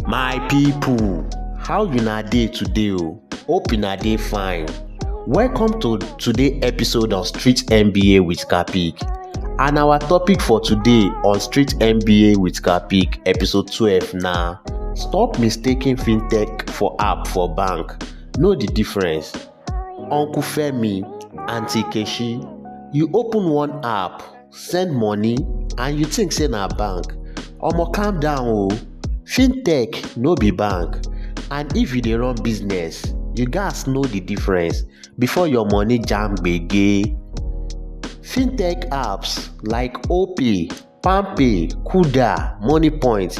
My people, how una dey today o? Hope una dey fine. Welcome to today episode of Street MBA with Kapik. And our topic for today on Street MBA with Kapik episode 12 na Stop mistaking fintech for app for bank. Know the difference. Uncle Femi, Auntie Keshi, you open one app send money and you think say na bank omo calm down o fintech no be bank and if you dey run business you gats know the difference before your money jam gbege fintech apps like opay palmpay kuda moniepoint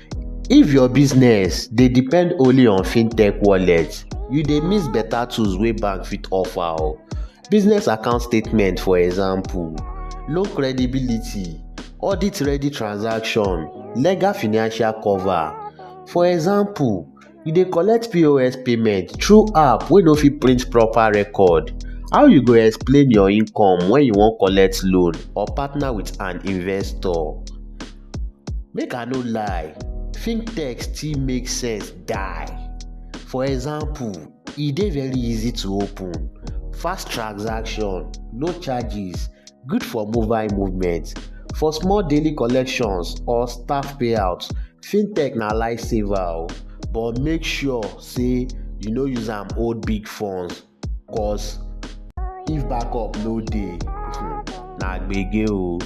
If your business dey depend only on fintech wallet, you dey miss better tools wey bank fit offer o. Business account statement for example, low credibility, audit ready transaction, legal financial cover. For example. You dey collect POS payment through app wey no fit print proper record. How you go explain your income when you wan collect loan or partner with an investor? Make I no lie, fintech still make sense die. For example, e dey very easy to open, fast transaction, no charges, Good for mobile movement. For small daily collections or staff payouts, fintech na lifesaver o, but make sure say you no use am hold big funds cos if backup no dey, na gbege o.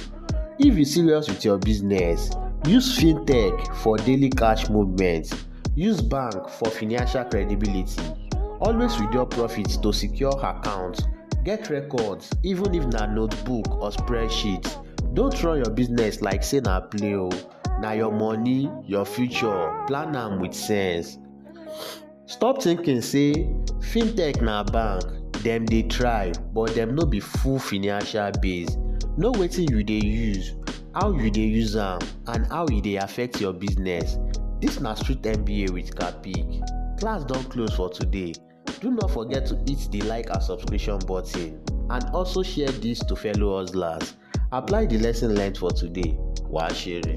If you serious with your business, use fintech for daily cash movement. Use bank for financial credibility, always withdraw profit to secure account, get records even if na notebook or spreadsheet, don't run your business like say na play o, na your money, your future, plan am with sense. Stop thinking say fintech na bank, dem dey try but dem no be full financial base, know wetin you dey use, how you dey use am and how e dey affect your business. Dis na street MBA with Capik. Class don close for today. Do not forget to hit the like and subscription button and also share dis to fellow hustlers. Apply the lesson learned for today. Wàá ṣeré.